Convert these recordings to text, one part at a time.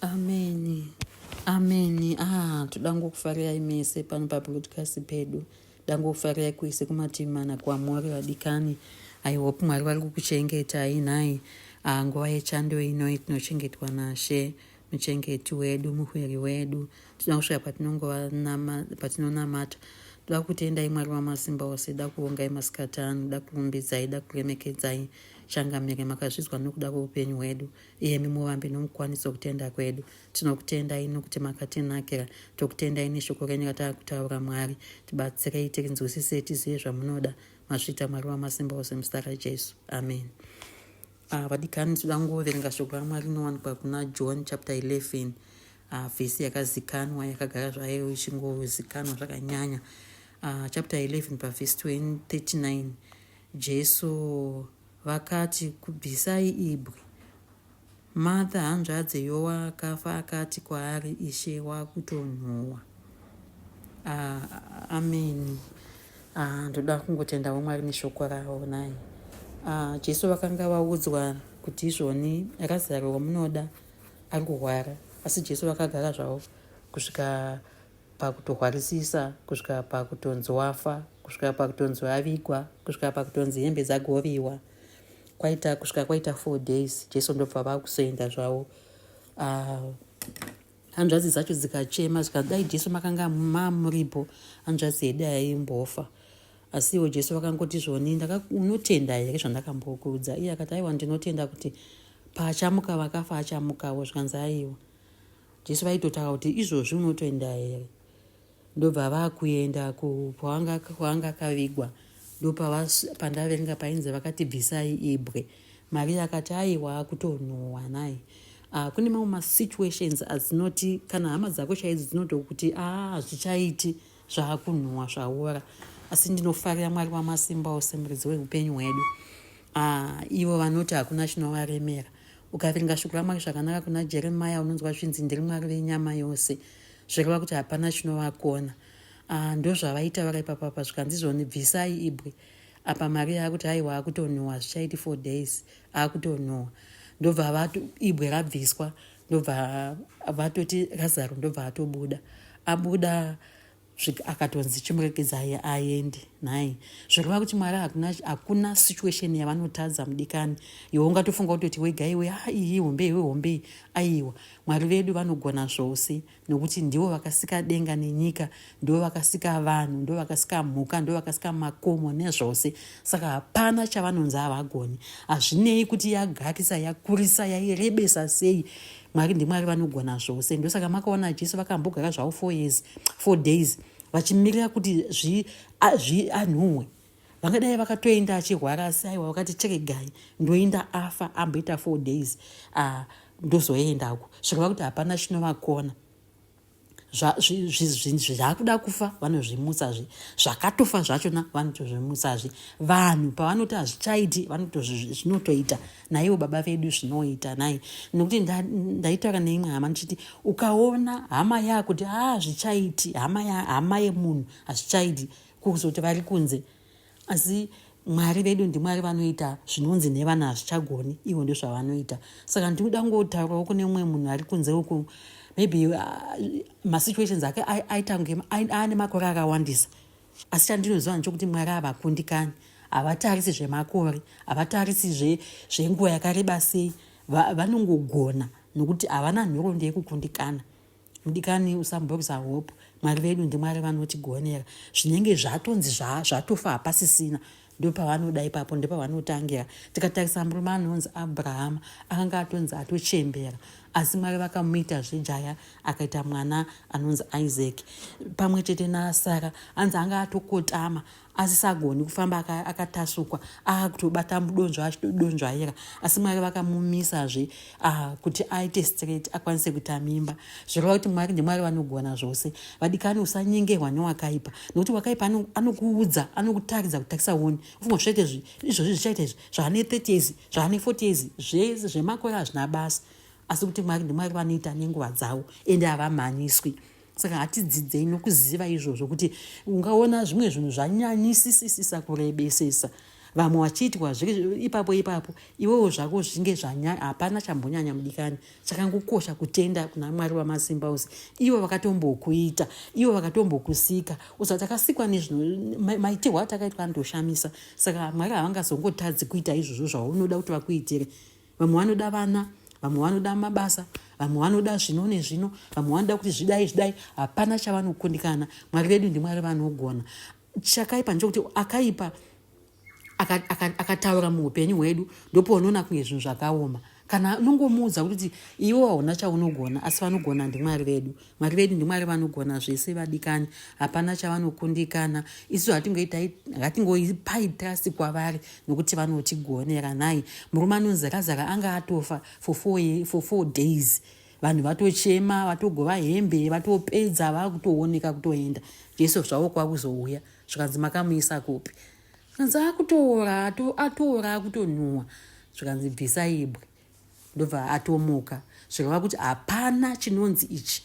Amen. Amen. Ah, toda ngokufarirai mese pano pabroadcast pedu. Toda ngokufarirai kwese kumativi mana kwamuri vadikani. I hope Mwari vari kukuchengetai nhai. Ah, nguva yechando ino tinochengetwa nashe muchengeti wedu muhwiri wedu tinoda kusvika patinonamata toda kutendai mwari wamasimba ose da kuvongai masikati ano da kurumbidzai da kuremekedzai changamire makazvidzwa nokuda kweupenyu hwedu iyemi muvambi nomukwanisi wokutenda kwedu tinokutendai nokuti makatinakira tokutendai neshoko renyu ratava kutaura mwari tibatsirei tirinzwisise tizive zvamunoda mazvita mwari wamasimba ose muzita rajesu amen ah, vadikani tinoda kungoverenga shoko ramwari rinowanikwa kuna john chapter 11 ah, vhesi yakazikanwa yakagara zvayo ichingozikanwa zvakanyanya ah, chapter 11 pavhesi 239 jesu Vakati, Kubvisai ibwe. Martha hanzvadzi yowaakafa akati kwaari, Ishe, wakutonhuwa. Ah, ameni. Ah, ndoda kungotendawo Mwari neshoko ravo nai. Ah, Jesu vakanga vaudzwa kuti izvoni Razaro wamunoda ari kurwara, asi Jesu vakagara zvavo kusvika pakutohwarisisa kusvika pakutonzi wafa kusvika pakutonzi avigwa kusvika pakutonzi hembe dzagoviwa kwaita kusvika kwaita four days jesu ndobva vakuzoenda zvavo uh, hanzvadzi dzacho dzikachema zvikanzi dai jesu makanga mamuripo hanzvadzi yedai yaimbofa asi iwo jesu vakangoti zvoni unotenda here zvandakambokuudza iye akati aiwa ndinotenda kuti paachamuka vakafa achamukavo zvikanzi aiwa Jesu vaitotaura kuti izvozvi unotoenda here ndobva vakuenda kwaanga akavigwa ndopandavaverenga painzi vakati bvisai ibwe maviri akati aiwa akutonhuhwa nai uh, kune mamwe masituations adzinoti kana hama dzako chaidzo dzinotokuti a ah, hazvichaiti zvaakunhuhwa zvaora asi ndinofarira mwari wamasimba ose muridzi weupenyu hwedu uh, ivo vanoti hakuna chinovaremera Ukaverenga shoko raMwari zvakanaka kuna Jeremiah unonzwa zvinzi ndiri Mwari venyama yose zvireva kuti hapana chinovakona. Ah, ndozvavaitaura ipapa pa zvikanzi zvoni bvisai ibwe apa mari yaakuti aiwa akutonhuwa zvichaiti four days akutonhuwa ndobva vatu ibwe rabviswa ndobva vatoti razaro ndobva atobuda abuda svika akatonzi chimuregedzai aende nhai zvekureva kuti mwari hakuna, hakuna situation yavanotadza mudikani iwe ungatofunga kutoti wega iwe ha iyi hombe iwe hombe iyi aiwa mwari vedu vanogona zvose nokuti ndivo vakasika denga nenyika ndivo vakasika vanhu ndo vakasika mhuka ndo vakasika makomo nezvose saka hapana chavanonzi havagoni hazvinei kuti yagakisa yakurisa yairebesa sei mwari ndimwari vanogona zvose ndosaka makaona jesu vakambogara zvavo four years four days vachimirira kuti zvianhuhwe vangadai vakatoenda achirwara asi aiwa vakati cheregai ndoenda afa amboita four days ah, ndozoenda uku zvireva kuti hapana chinovakona zvaakuda kufa vanozvimutsazve zvakatofa zvachona vanotozvimutsazve vanhu pavanoti hazvichaiti vanotozvinotoita naivo baba vedu zvinoita nai nokuti ndaitaura neimwe hama ndichiti ukaona hama yakuti haa zvichaiti hama yemunhu hazvichaiti kuzoti vari kunze Asi Mwari vedu ndiMwari vanoita zvinonzi nevana hazvichagoni, ivo ndozvavanoita. Saka ndinoda kungotaurawo kune mumwe munhu ari kunze uku, maybe uh, masituations ake aita kunge aane makore akawandisa. Asi chandinoziva ndechokuti Mwari havakundikani, havatarisi zvemakore, havatarisi zvenguva yakareba sei, vanongogona nokuti havana nhoroondo yekukundikana. Mudikani usambobvisa hope mwari vedu ndimwari vanotigonera zvinenge zvatonzi zvatofa hapasisina ndopavanoda ipapo ndopavanotangira tikatarisa murume anonzi abrahama akanga atonzi atochembera asi mwari vakamuita zvejaya akaita mwana anonzi isaac pamwe chete nasara anzi anga atokotama asisagoni kufamba akatasukwa akutobata mudonzvo achitodonzvaira asi mwari vakamumisazve kuti aite straight akwanise kuita mimba zvireva kuti mwari ndimwari vanogona zvose vadikani usanyengerwa newakaipa nokuti wakaipa anokuudza anokutaridza kutakisa woni ufunga zvichaite izvozvi zvichaita izvi zvaane 30 years zvaane 40 years zvese zvemakore hazvina basa asi kuti mwari ndimwari vanoita nenguva dzavo ende havamhanyiswi saka hatidzidzei nokuziva izvozvo kuti ungaona zvimwe zvinhu zvanyanyisisisisa kurebesesa vamwe vachiitwa zviri ipapo ipapo iwewo zvako zvinge zvanyanya hapana chambonyanya mudikani chakangokosha kutenda kuna mwari wamasimba ose ivo vakatombokuita ivo vakatombokusika usa takasikwa nezvimaitirwo atakaitwa anotoshamisa saka mwari havangazongotadzi kuita izvozvo zvaunoda kuti vakuitire vamwe vanoda vana vamwe vanoda mabasa vamwe vanoda zvino nezvino vamwe vanoda kuti zvidai zvidai hapana chavanokundikana mwari vedu ndimwari vanogona chakaipa ndechokuti akaipa akataura muupenyu hwedu ndopoonoona kunge zvinhu zvakaoma kana unongomuudza kuti iwe hauna chaunogona asi vanogona ndimwari vedu Mwari vedu ndiMwari vanogona zvese vadikani, hapana chavanokundikana. Isu hatingoipai trust kwavari nokuti vanotigonera. Nhai, murume anonzi Razaro anga atofa for four, for four days vanhu vatochema vatogova hembe vatopedza vakutooneka kutoenda jesu zvavo kwakuzouya zvikanzi makamuisa kupi zvikanzi akutoora atoora akutonhuwa zvikanzi bvisa ibwe ndobva atomuka zvikava kuti hapana chinonzi ichi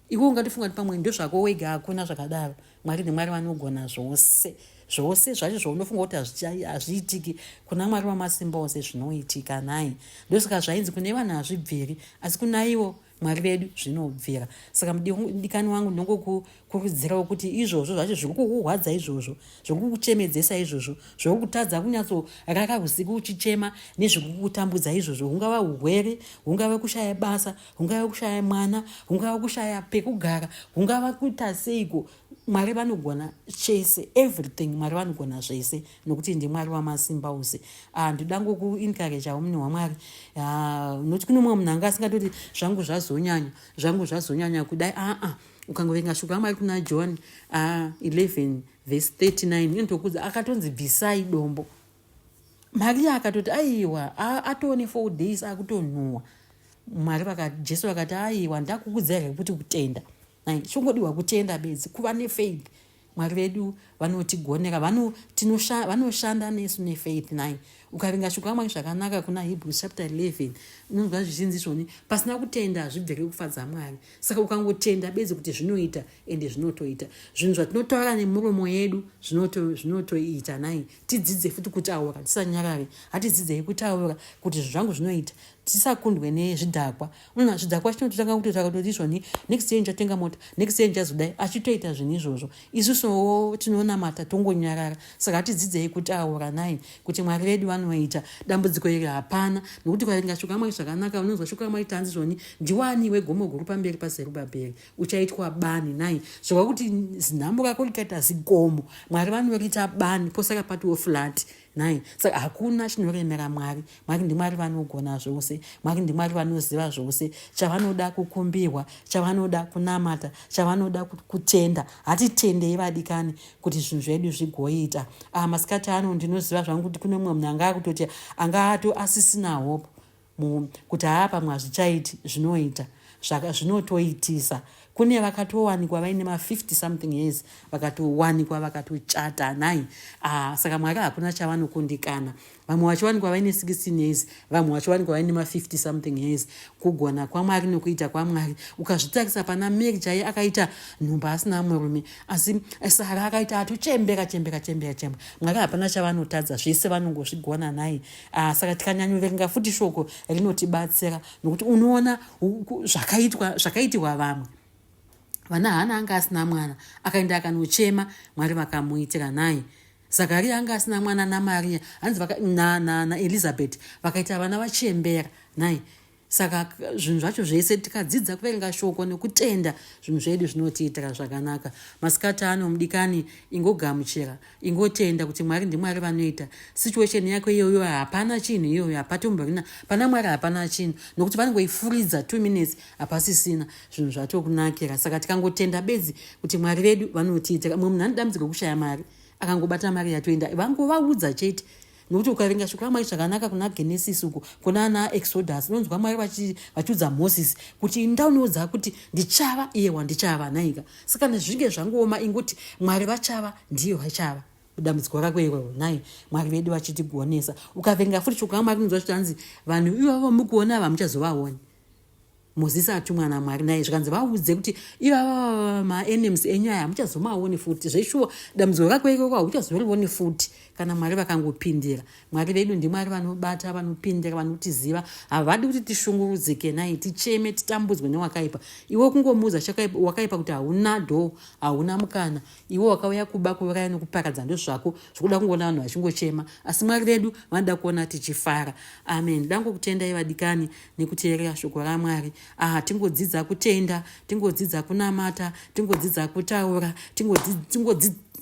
iwe ungatofunga kuti pamwe ndozvako wega hakuna zvakadaro mwari nemwari vanogona zvose zvose zvacho zvaunofunga kuti hazviitiki kuna mwari wamasimba ose zvinoitika nhai ndosaka zvainzi kune vanhu hazvibviri asi kunaiwo mwari vedu zvinobvira saka mudikani wangu ndinongokukurudzirawo kuti izvozvo zvacho zvekukuhwadza izvozvo zvekukuchemedzesa izvozvo zvekukutadza kunyatsorara usiku uchichema nezvekukutambudza izvozvo hungava urwere hungava kushaya basa hungava kushaya mwana hungava kushaya pekugara hungava kuita seiko mwari vanogona chese everything mwari vanogona zvese nokuti ndimwari wamasimba ose ah, ndoda ngokuinkarejawo mune wamwari ah, noti kune mumwe munhu anga asingatoti zvangu zvazonyanya zvangu zvazonyanya kudai aa ah, ukangoverenga shoko ramwari kuna john 11 vhesi 39 inotokuudza akatonzi bvisai dombo mariya akatoti aiwa atoone four days akutonhuwa mwari jesu vakati aiwa ndakukudzai rekuti kutenda chongodiwa kutenda bedzi kuva nefaith Mwari vedu vanotigonera vano, tinosha, vanoshanda nesu nefaith nai ukaringa shukamwari zvakanaka kuna hebrews chapter 11 unonzwa zvichinzi zvoni pasina kutenda hazvibvere kufadza mwari saka ukangotenda bedzi kuti zvinoita ende zvinotoita zvinhu zvatinotaura nemuromo yedu zvinotoita nai tidzidze futi kutaura tisanyarare hatidzidzei kutaura kuti zvinhu zvangu zvinoita tisakundwe nezvidhakwa umm hazvo dzakwa chinototanga kutotsvaka kuti zvoni next year ndichatenga mota next year ndichazodai achitoita zvinhu izvozvo isusuwo tinonamata tongonyarara saka tidzidzei kutaura nai kuti mwari vedu vanoita dambudziko iri hapana nokuti kwaringa shoko amwari zvakanaka unonzwa shoko amwari tanzi zvoni ndiwani wegomo guru pamberi pazerubhabheri uchaitwa bani nai zvova kuti zinhambo rako rikaita zigomo mwari vanoriita bani posaka patiwo flati nhai saka hakuna chinoremera mwari mwari ndimwari vanogona zvose mwari ndimwari vanoziva zvose chavanoda kukumbirwa chavanoda kunamata chavanoda kutenda hatitendei vadikani kuti zvinhu zvedu zvigoita ah, masikati ano ndinoziva zvangu kuti kune mumwe munhu anga akutoti anga ato asisina hope kuti haa pamwe hazvichaiti zvinoita zvaka zvinotoitisa kune vakatowanikwa vaine ma50 something years vakatowanikwa vakatochata nhai ah, saka mwaka hakuna chavanokundikana vamwe vachiwanikwa vaine 16 years vamwe vachiwanikwa vaine ma50 something years kugona kwamwari nokuita kwamwari ukazvitarisa pana mary chaiye akaita nhumba asina murume asi eh, sara akaita atochembeka chembeka chembeka chembeka mwaka hapana chavanotadza zvese vanongozvigona nhai Ah, saka tikanyanyoverenga futi shoko rinotibatsira nokuti unoona zvakaitwa zvakaitirwa vamwe vana hana anga asina mwana akaenda akanochema mwari vakamuitira nhai zakaria anga asina mwana namariya hanzi naelizabeth vakaita vana vachembera nhai saka zvinhu zvacho zvese tikadzidza kuverenga shoko nekutenda zvinhu zvedu zvinotiitira zvakanaka masikati ano mudikani ingogamuchira ingotenda kuti mwari ndimwari vanoita situation yako iyoyo hapana chinhu iyoyo hapatomborina pana mwari hapana chinhu nokuti vanongoifuridza two minutes hapasisina zvinhu zvatokunakira saka tikangotenda bedzi kuti mwari vedu vanotiitira mumwe munhu anodambidzirwa kushaya mari akangobata mari yatoenda vangovaudza chete nokuti ukaverenga shoko ramwari zvakanaka kuna genesis uko kuna ana exodus unonzwa mwari vachiudza moses kuti inda uniudza kuti ndichava iye wandichava nhaika saka nezvinge zvangooma inguti mwari vachava ndiye vachava dambudziko rako iroro nhai mwari vedu vachitigonesa ukaverenga futi shoko ramwari unonzwa zvitanzi vanhu ivavo mukuona ava muchazovaoni mozisi atumwa namwari naye zvikanzi vaudze kuti ivava maenems enyu aya hamuchazomaoni futi zveshuwa dambudziko rako ikoko hakuchazorivoni futi kana mwari vakangopindira mwari vedu ndimwari vanobata vanopindira vanotiziva havadi kuti tishungurudzike nai ticheme titambudzwe newakaipa iwe kungomuudza wakaipa kuti hauna dho hauna mukana iwe wakauya kuba kuuraya nokuparadza ndozvako zvikuda kungoona vanhu vachingochema asi mwari vedu vanoda kuona tichifara amen dangokutendai vadikani nekuteerera shoko ramwari aha tingodzidza kutenda tingodzidza kunamata tingodzidza kutaura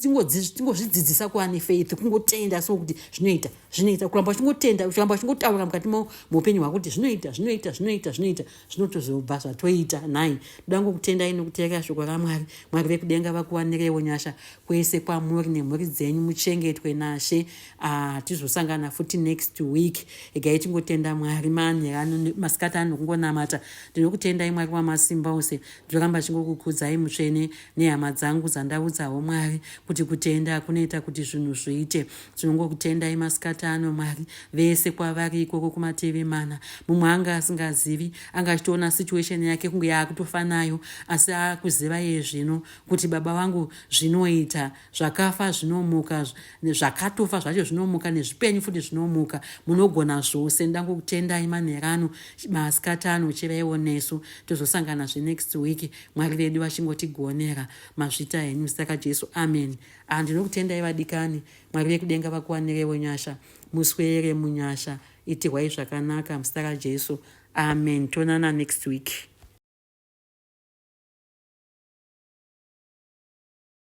tingozvidzidzisa kuva nefaith kungotenda so kuti zvinoita zvinoita kuramba uchingotenda kuramba uchingotaura mukati muupenyu hwako kuti zvinoita zvinoita zvinoita zvinoita zvinotozobva zvatoita nhai ndoda ngokutendai nokuteerera shoko ramwari mwari vekudenga vakuwanirewo nyasha kwese kwamuri nemhuri dzenyu muchengetwe nashe Ah, tizosangana futi next week egai tingotenda mwari manherano masikati ano kungonamata ndinokutendai mwari wamasimba ose ndoramba chingokukudzai mutsvene nehama dzangu dzandaudzawo mwari kuti kutenda kunoita kuti zvinhu zviite tinongokutendai masikati ano mwari vese kwavari ikoko kumateve mana mumwe anga asingazivi anga achitoona situation yake kunge yaakutofanayo asi akuziva iye zvino kuti baba vangu zvinoita zvakafa zvinomuka zvakatofa zvacho zvinomuka nezvipenyu futi zvinomuka munogona zvose nda kutendai manherano masikati ano chiraiwo nesu tozosangana zve next week mwari vedu vachingotigonera mazvita henyu zita rajesu amen ah, ndinokutendai vadikani mwari vekudenga vakuwanirewo nyasha muswere munyasha itirwai zvakanaka muzita rajesu amen tonana next week